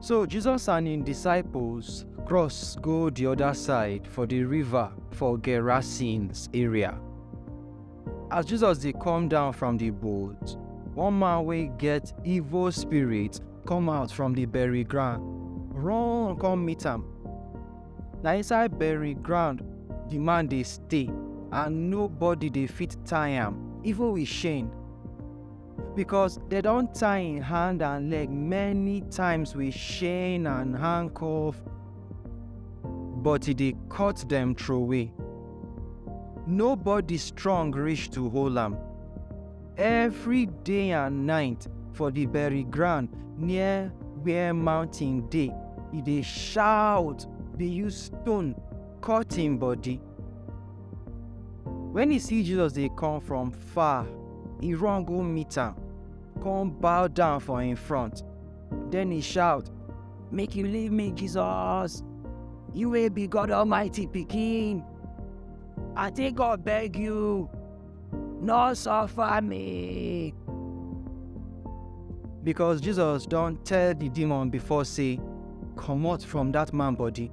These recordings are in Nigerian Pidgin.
So Jesus and im disciples cross go di oda side for di river for Gerasenes area. As Jesus dey come down from di boat, one man wey get evil spirit come out from di bury ground, run come meet am. Na inside bury ground di man dey stay and nobody dey fit tie am, even with chain. because they don't tie in hand and leg many times with chain and handcuff but he dey cut dem throway nobody strong reach to hold am every day and night for the bury ground near where mountain dey he dey shout dey use stone cut him body When he see Jesus dey come from far, he run go meet am, come bow down for him front. Then he shout, Make you leave me, Jesus! You will be God Almighty Pekin! I take God beg you, no suffer me! Because Jesus don't tell the demon before say, Come out from that man body.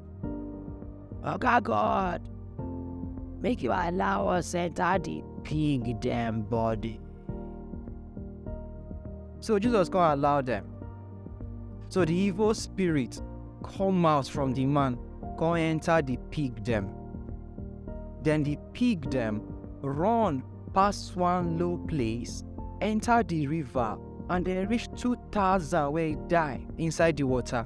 Oga God, make you allow us enter the pig dem body. So Jesus come allow them. So the evil spirit come out from the man, come enter the pig them. Then the pig them run past one low place, enter the river, and they reach 2,000 where he die inside the water.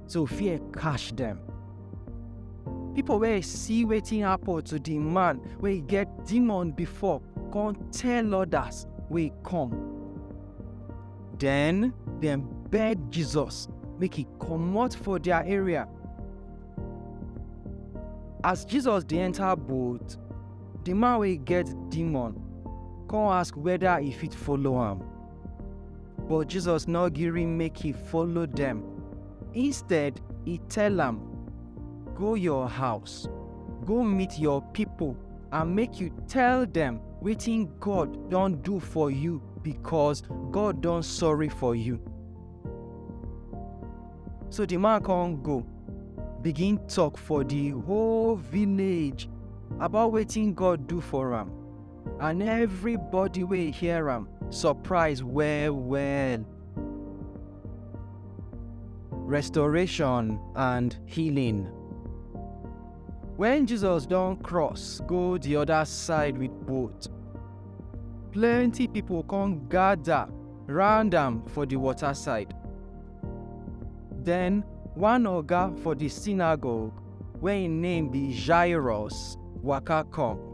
so fear catch dem. Pipo wey see wetin happen to di man wey get demon before come tell odas wey come. Den dem beg Jesus make e comot for dia area. As Jesus dey enta boat, di man wey get demon come ask weda e fit follow am. But Jesus no gree make he follow dem. Instead, he tell am, Go your house, go meet your people and make you tell dem wetin God don do for you because God don sorry for you. So the man come go, begin talk for the whole village about wetin God do for am. and everybody wey hear am surprise well well. Restoration and healing. When Jesus don cross go the other side with boat, plenty people come gather round am for the water side. Then one oga for the synagogue wey im name be Jairus waka come.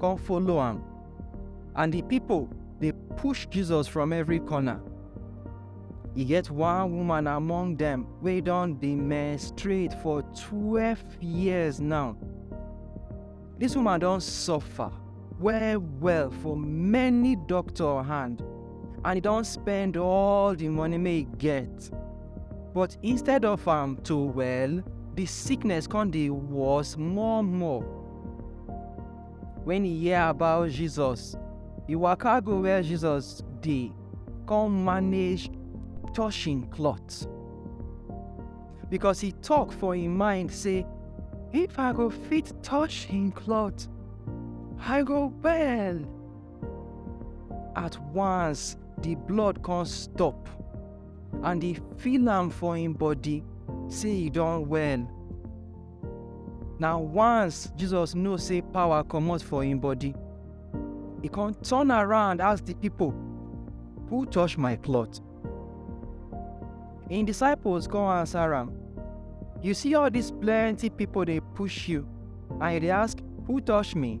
come follow am. And the people dey push Jesus from every corner. E get one woman among dem wey don dey menstruate for twelve years now. This woman don suffer well well for many doctor hand and e don spend all the money wey e get. But instead of am to well, the sickness come dey worse more more. Wen e hear about Jesus, e waka go where Jesus dey, come manage touch im cloth. Because e talk for im mind say, If I go fit touch im cloth, I go well. At once, the blood come stop, and e feel am for im body say e don well. Na once Jesus know say power comot for him body, he come turn around ask the people, Who touch my cloth? Him disciples come answer am, You see all these plenty people dey push you, and you dey ask, Who touch me?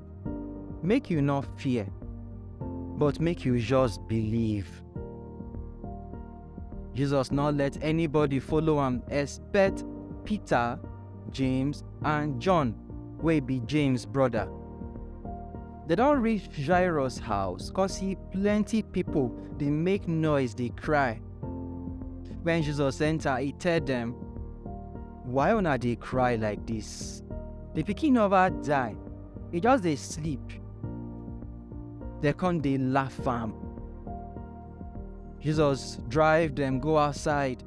Make you not fear, but make you just believe. Jesus not let anybody follow am except Peter, James and John wey be James brother. They don reach Jairus house come see plenty people dey make noise dey cry. When Jesus enter, he tell them, Why una dey cry like this? The pikin never die, e just dey sleep. Dem come dey laugh am. Jesus drive dem go outside,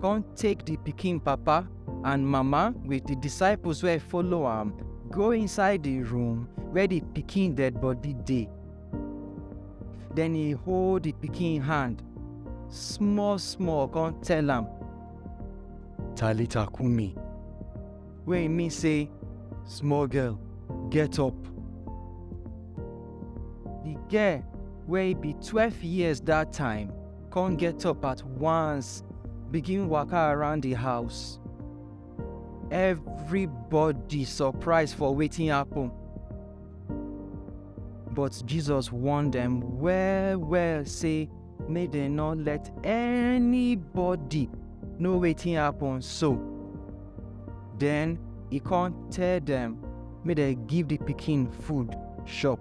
come take the pikin papa and mama with the disciples wey follow am go inside the room where the pikin dead body dey. Then he hold the pikin hand small small come tell am, Talita Kumi, wey e mean say small girl get up. Di girl wey be twelve years dat time come get up at once begin waka around di house. Everybody surprise for wetin happen. But Jesus warn dem well well say make dem no let anybody know wetin happen so then e come tell dem make dem give the pikin food chop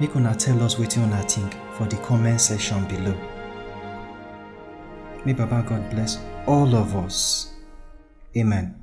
Make una tell us wetin una think for the comment section below. May Baba God bless all of us. Amen.